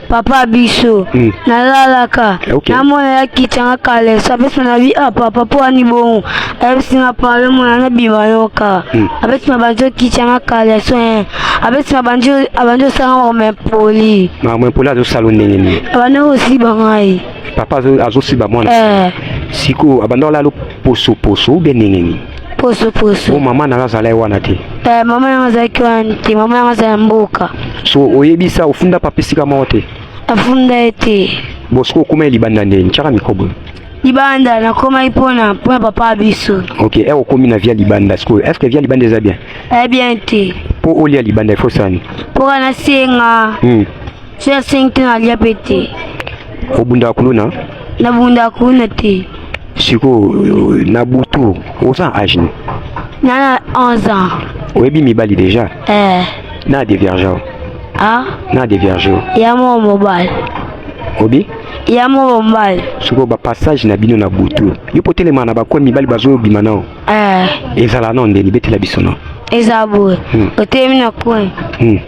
papa biso mm. nalalaka eh, okay. namona yakitanga kalesa apesi na bi ah papa mpo wani bongo ayebisi nga pale mona na bima yoka mm. apesi na banzi okitanga kalesa eh. apesi na banzi abandi osala ngo mempoli na mempoli azosala ndenge nini abandi kosiba ngai papa azosiba mwana eh. sikoyo abandi olala posoposo ou bien ndenge nini poso poso oh, mama nanga azalai wana te eh, mama nanga azalaki wana te mama nanga azala mboka so oyebisa ofunda papa esika moko te afunda ye te bo soki okoma ye libanda nde ntiaka mikobo libanda nakomaki mpona mpona papa biso ok e okomi na via libanda sikoyo est ce que via libanda eza bien eh bien te mpo olia libanda ifo sani mpo kana senga hmm. Soki ya 5 te nalia mpe te. Obundaka kuluna? Nabundaka kuluna te. Sikoyo na butu oza age nini? Nana 11 ans. Oyebi mibali deja? Eh. Na divergent. Ah? Na divergent. Ya mwa mobali. Obi? Ya mwa mobali. Sikoyo ba passage na bino na butu. Yo potelema na bakoya mibali bazobima nao. Eh. Ezala nao ndeni betela biso nao. Eza boye. Hmm. Otelemi na coin. Hmm.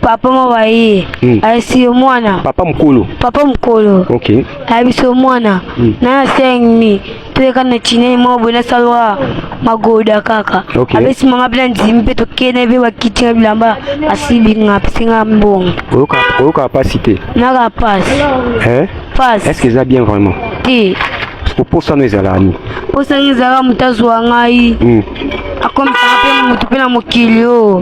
papa mama ye hmm. ayebisi yo mwana papa mokolo papa mokolo okay. ayebisi yo mwana hmm. na asengni toyeka na chinei moko boye nasalwa magoda kaka okay. abesi mama mpe na ndimi mpe tokende mpe bakiti na bilamba asilinga apesinga mbongo oyoka pasi te naka pasi eh? pasi est ce que eza bien vraiment te oposano ezalaka nini oposano ezalaka moto azwa ngai hmm. akomisaka mpe moto mpe na mokili oyo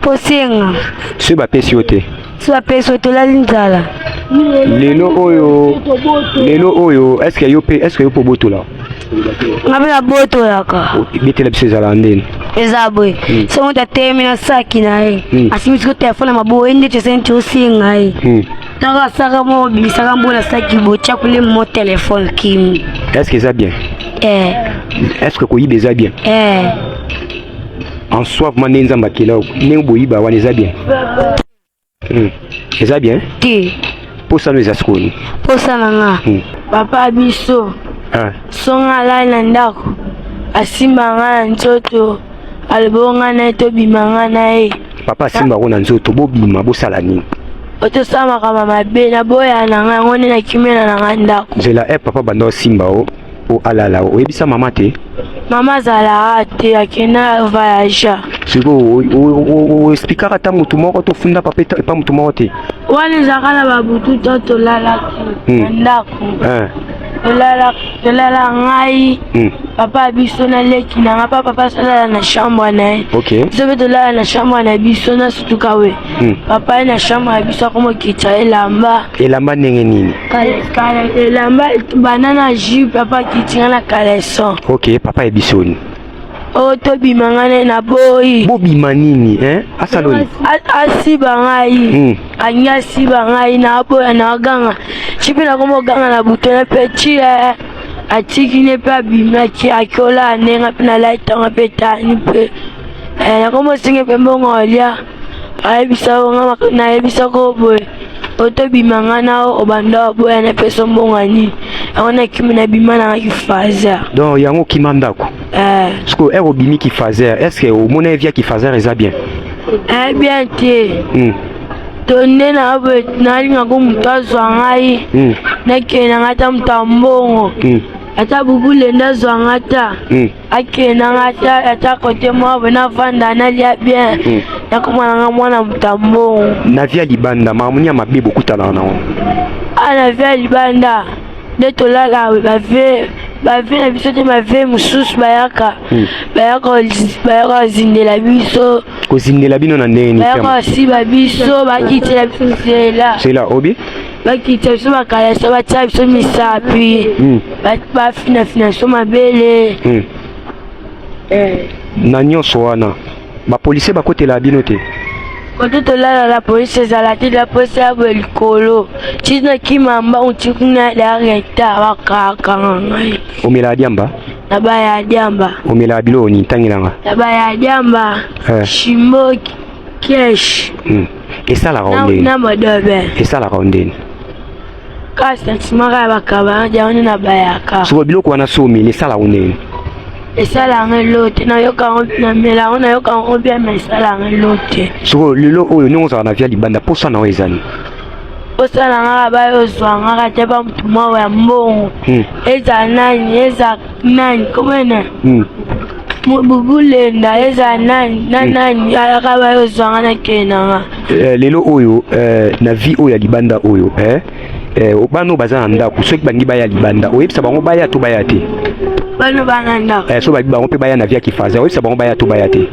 kosenga soki bapesi yo te soki bapesi yo tolali nzala lelo oyo lelo oyo eske yo mpe eske yo mpe obotola nga mpe nabotolaka betela biso ezalaka ndeni eza boye hmm. so moto atelemi na saki na ye hmm. asimbi siko telefone ya maboye ndeti esenti osenga ye hmm. ntango asaka mo obimisaka mbo na saki botya kule mo telefone kimi eske eza bien eh. eske koyiba eza bien eh. en soi vraiment ndenge nzambe akela yo ndenge boyiba wana eza bien hmm. eza bien te mposa no eza sikoni mposa na nga hmm. papa biso ah. songa alai na ndako asimba nga na nzoto aloboo nga na ye tobima nga na ye papa asimba yango na nzoto bobima bosala nini otosala makambo mabe naboya na nga yango nde nakimela na nga ndako nzela e papa banda osimba o o alala oyebisa mama te mama azalaka te akenda voyage sikoyo oexplikaka ta motu moko to ofunda papa epa motu moko te wana ezalaka na babutu to tolalaki hmm. na ndako eh. tolala ngai hmm. papa biso na leki na ngai pa papa asalala na chambre na ye biso mpe tolala na chambre na biso na sutukawe hmm. papa ye na chambre ya biso akomokitisa elamba elamba ndenge nini elamba bana na ju papa kitinga na caleson ok papa ebisoni oyo oh, tobima nga ne na boyi bobima nini eh? asaloni asiba ngai hmm. alingi asiba ngai na boya na aganga ci mpe nakoma oganga na butone mpe ci eh. atiki ne mpe abimaki akiola anenga mpe nalaitanga mpe tani mpe eh, nakoma osinge mpe mbongo olia ayebisa yo nga nayebisa ko boye otobima nga na obanda oboya napesa mbongo nini yango nakimi nabima nanga kifazer donc yango okima ndako eh. sikoyo ere obimi kifazer est ce que omona ye via kifazer eza bien eh bien te hmm. to nde nalingako moto azwa ngai hmm. nakende ngai ata moto ya mbongo hmm. ata bubule nde azwa ngai ta akendanga ata ata kote mwa boye navanda nalia bien hmm. nakomananga mwana moto ya mbongo na via libanda makambo nini ya mabe bokutanaka nango a ah, na via libanda nde tolala bave bave na biso te bave mosusu bayaka hmm. bayaka kozindela biso kozindela bino na ndenge nini bayaka kosiba biso bakitela biso nzela nzela obi bakita biso bakalasa batya biso misapi hmm. bafinafina biso mabele hmm. eh. na nyonso wana bapolisie bakotela bino te kote tolala la polisi ezala te la polisi ya boye likolo ti nakima mbangu ti kuna dareta bakakanga ngai omela ya diamba na baya ya diamba omela ya biloko nini ntangelanga na baya ya diamba eh. shimboki kesh hmm. esalaka o ndeni na madobe esalaka o ndeni ka sentiment kaka bakaba yango nde nabayaka soko biloko wana somi esala yango ndeni esala yango elote nayoka yango namela yango nayoka yango bia ma esala yango elote soko lelo oyo ndenge ozala na via libanda mposa na yo ezali osala ngaka bayo ozwa ngaka te bamotu mawa ya mbongo hmm. ezala nani ezala Nani kombe nani? Hmm. Mobubule nda eza nani na hmm. nani alaka bayo zwanga na kenanga. Eh, lelo oyo eh, na vie oyo ya libanda oyo eh, eh, bana oyo baza na ndako soki bangi baya libanda oyebisa bango baya to baya te bano bana ndako eh, so babi bango mpe baya na via kifaza oyebisa bango baya to baya te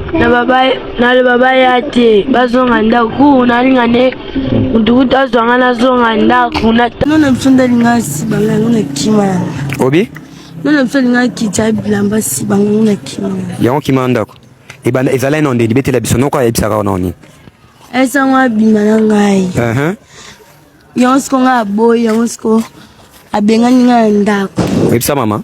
naloba baya te bazonga ndako ku nalinga nde motu kutu azwanga nazonga ndako no na biso ndalinga asiba ngai yango na kima obi Nana biso alingaki kitya bilamba si bango na kima. Yango kima ndako. Ebanda ezalaki na nde libetela biso noko ayebisaka ona oni. Esango abima na ngai. Uh -huh. Yango siko ngai aboyi yango siko abengani ngai na ndako. Oyebisa mama?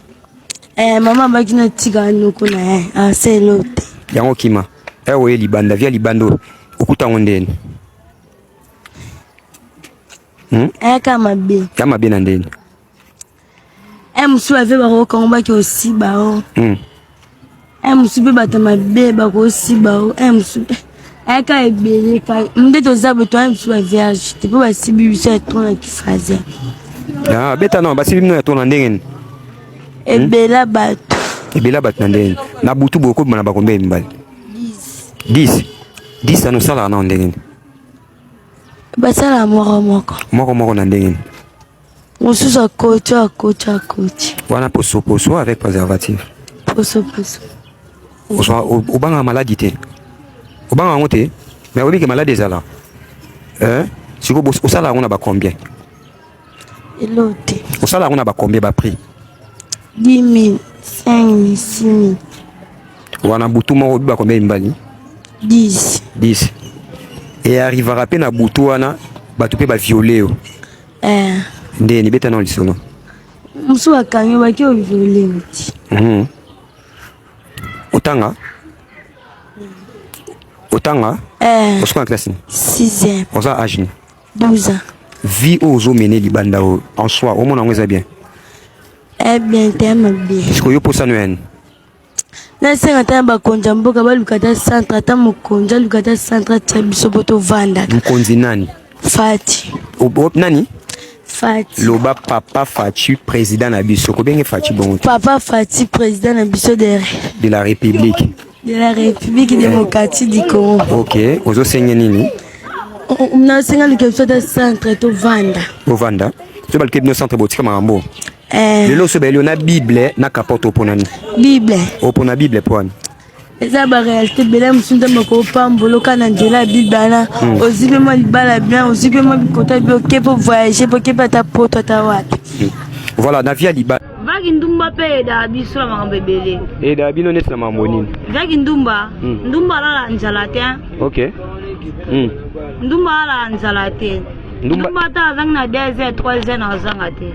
Eh, mama abaki na tika noko na ye aselo te. Yango kima. Ewe oye libanda via libanda oyo okuta yango ndeni? Hmm? Eh, kama be. Kama be na ndeni? Eh, mosusu ave bakokanga baki osiba o oh. hmm. eh, mosusu mpe bato mabe bakosiba o oh. eh, mosusu ayaka ebele ka nde toza boto aye mosusu bavierge te mpo basibi biso ya tro na kifraser ah, beta no basibi bino ya tro na ndenge nini hmm? ebela bato ebela bato na ndenge nini na butu bokobima na bakombe ya mibali 10 10 ano osalaka nao ndenge nini basalaka moko moko moko moko na ndenge nini Mosusu akoti akoti akoti. Wana poso poso avec préservatif. Poso poso. Ozwa obanga maladi te. Obanga yango te mais oyebi ke maladi ezala. Eh? Sikoyo osala yango na ba combien? Elo te. Osala yango na ba combien ba prix? 10 000, 5 000, 6 000. Wana butu moko obiba combien mibali? 10. 10. Et arrivera pe na butu wana bato pe ba violer yo. eh. nde nibeta nao lisolo mosusu bakangi baki oviolenti mhm. otanga otanga eh. osuka na classe nini sixième oza age nini 12 ans vie oyo ozomene libanda oyo en soi omona yango eza bien eh bien te mabe sikoyo yo mposano yani nasenga ata na bakonzi ya mboka baluka ata centre ata mokonzi aluka ata centre atia biso mpo tovandaka mokonzi nani fati o, o, nani Fati. loba papa fati président na biso kobenge fati bongo papa fati président na biso de de la république de la république eh. démocratique du congo ok ozosenge nini nasenga luka biso ata centre tovanda tovanda to baluka bino centre botika makambo Eh. lelo oso bayeli yo na bible na capote opona nini bible opona bible mpo wani eza barealité ebele mosusu nzambe akopambola oka na nzela ya bible wana hmm. ozwi mpe mwa libala bien ozwi mpe mwa bikota bi oke mpo voyage mpo oke mpe ata poto ata wapi hmm. voilà na vie ya libala vaki ndumba mpe eyedaka biso na makambo ebele eyedaka bino neti na makambo nini vaki ndumba hmm. ndumba alala nzala te ok ndumba alala nzala te ndumba ndumba ata azangi na 2 heures 3 heures na azanga te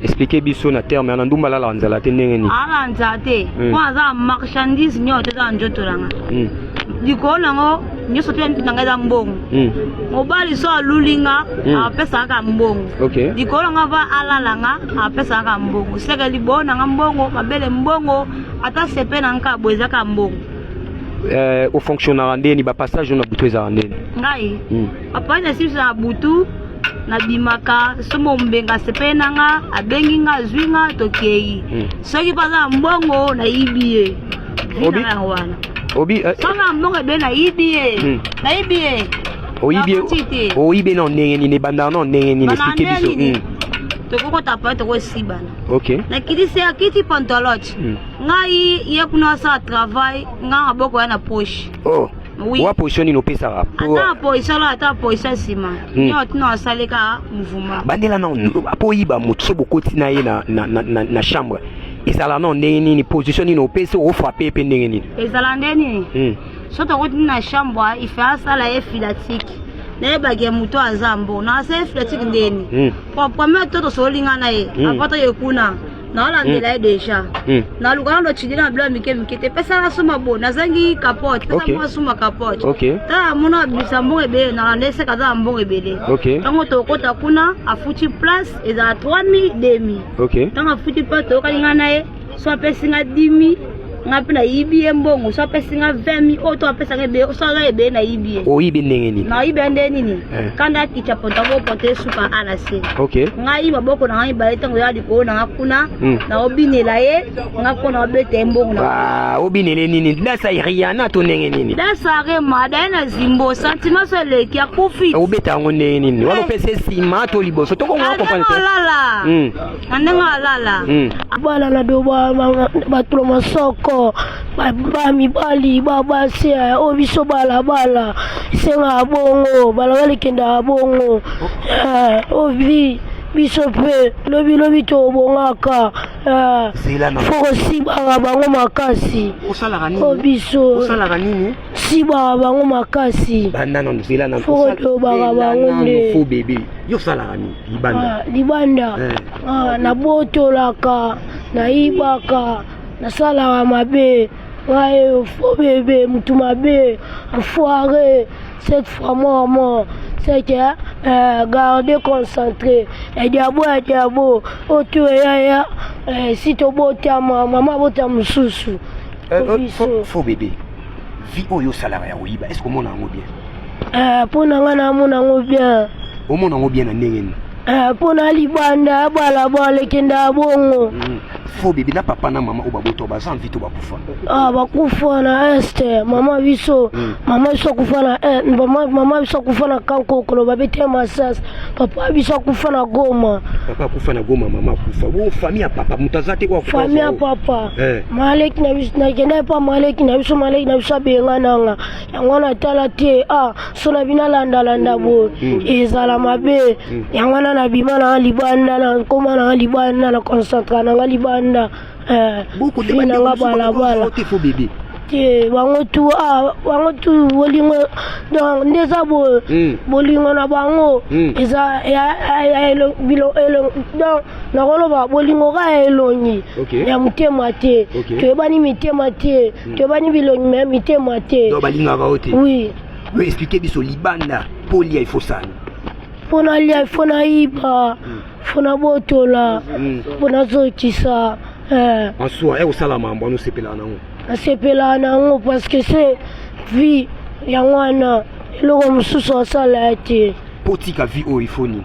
expliquer biso na terme na ndumba lala nzala te ndenge nini ala nzala te Mm. mpo aza marchandise nyonso te eza na njoto na nga Mm, likolo na ngo nyonso te na nga eza mbongo mm, mobali so aluli nga Mm. apesaka kaka mbongo ok likolo na nga va alala nga apesaka kaka mbongo seke liboyo na nga mbongo mabele mbongo ata sepe na nga boye eza kaka mbongo Eh, ofonctionnaka ndeni bapassage oyo na butu ezalaka ndeni ngai Mm. papa na simisa na butu nabimaka somo ombenga sepele na nga abengi nga azwi nga tokei hmm. soki mpo aza na mbongo nayibi ye vina wana obi eh, soki na mbongo ebe nayibi ye hmm. nayibi ye oyibi ye na ndenge nini ebandaka na ndenge nini esplike biso hmm. tokokota pa tokosibana nakitisi akiti pantolote ngai ye kuna asala travail ngai maboko ya na poche oh. Oui. Wa position nini opesaka? Ata position la ata position sima. Hmm. Nyo tino asali ka mouvement. Bandela na po yiba moto so bokoti na ye na na na, na chambre. Ezala na ndenge nini position nini opesi o frapper pe ndenge nini? Ezala ndenge nini? Hmm. So tokoti na chambre, il fait asala ye filatique. nayebaki ya moto aza mbo na asala filatique ndeni po hmm. premier to tosolingana ye hmm. apata ye kuna naolandela ye deja hmm. naluka nano chidina na bilo ya mike mike te pesa na suma bo nazangi capote pesa mwa suma capote tala mona abimisa mbongo ebele nalanda eseka aza na mbongo ebele ntango tokota kuna afuti place ezala 3000 demi ntango afuti place toyokani ngai na ye so apesi ngai dimi nga mpe nayibi ye mbongo so apesi nga 20 mi oyo to apesaka ebele so aza ebele nayibi ye oyibi ndenge nini nayibi ya ndenge nini eh. kanda akica potabo pote esuka a na se ngai maboko na ngai mibale ntango ya likolo na nga kuna hmm. naobinela ye nga mpo na obeta ye mbongo ah, obinele nini dasa riana to ndenge nini dasa rema daye na zimbo sentiment so eleki akufi obeta yango ndenge nini wana eh. opesa nsima to liboso tokongo na ah, kopalala hmm. na ndenge alala hmm. bana na do bato na masoko bamibali babasi eh, oyo biso balabala esengaka bongo balabala ekendaka bongo eh, ovi biso mpe lobilobi tobongaka eh, fokosibaka bango makasi o biso sibaka bango makasi banda na nzela na fokolobaka bango nde fo bebe yo osalaka nini libanda ah, libanda eh. ah, nabotolaka nayibaka nasalaka mabe ngai fo bebe motu mabe enfoire cette fois mort mort c'est que euh, garder concentré ediabo ediabo otu eyaya eh, si tobotama mama abota mosusu Euh, euh, faux, faux bébé. Vie oyo osalaka ya koyiba, est-ce komona yango bien? Eh, mpo na ngai namona yango bien. Omona yango bien na ndenge nini? Eh, mpo na libanda ya balabala ekenda ya bongo. Mm. Faux bébé na papa na mama oyo babota baza envie to bakufa. Ah, bakufa na est mama biso mm. mama biso akufa na est mama, mama biso akufa na kankokolo babete masas papa biso akufa na goma. Papa akufa na goma mama akufa. Bo famille ya papa moto aza te oyo akufa. Famille ya papa. Eh. maleki na biso nakenda epa maleki na biso maleki na biso abenga nanga yango wana atala te ah so na bino alandalanda boye hmm. ezala mabe hmm. yango wana nabima nanga libanda nakoma nanga libanda na concentra nanga libanda eh, nanga balabala te bango tu ah, bango tu bolingo donc nde eza boye hmm. bolingo na bango eza donc nakoloba bolingo kaka ya elongi okay. ya motema te okay. toyebani mitema te mm. toyebani bilongi me mitema te balingaka yo te oui yo explike biso libanda mpo olia ifo sani mpo nalia ifo nayiba mpo hmm. nabotola mpo hmm. nazokisa eh. en soi ekosala mambo ano osepelaka nango nasepelaka nango parce que se vie yango wana eloko mosusu asala ya te mpo otika vie oyo ifo nini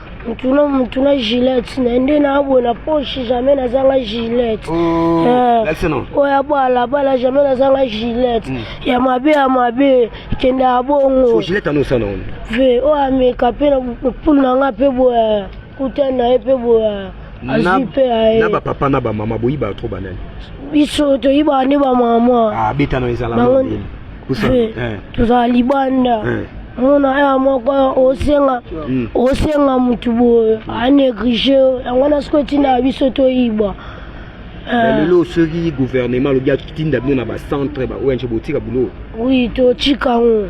mutu na mutu na gilet na nde naabwe na poche jamais nazanga gilet oh, eh, oyo ya balabala jamais nazanga gilet hmm. ya mabe ya mabe kende ya bongo ve oyo ameka mpe na pulu na nga mpe boya kuta na ye mpe boya azwi mpe ya ye na bapapa na bamama boyibaka tro banani biso toyibaka nde bamama ah, bango tozala libanda mona aya moko osenga hmm. osenga motu boye aneglige yango wana soki etindaka biso toyibwa eh. lelo soki gouvernement alobi atinda bino na bacentre baong botika bulo oui totika yango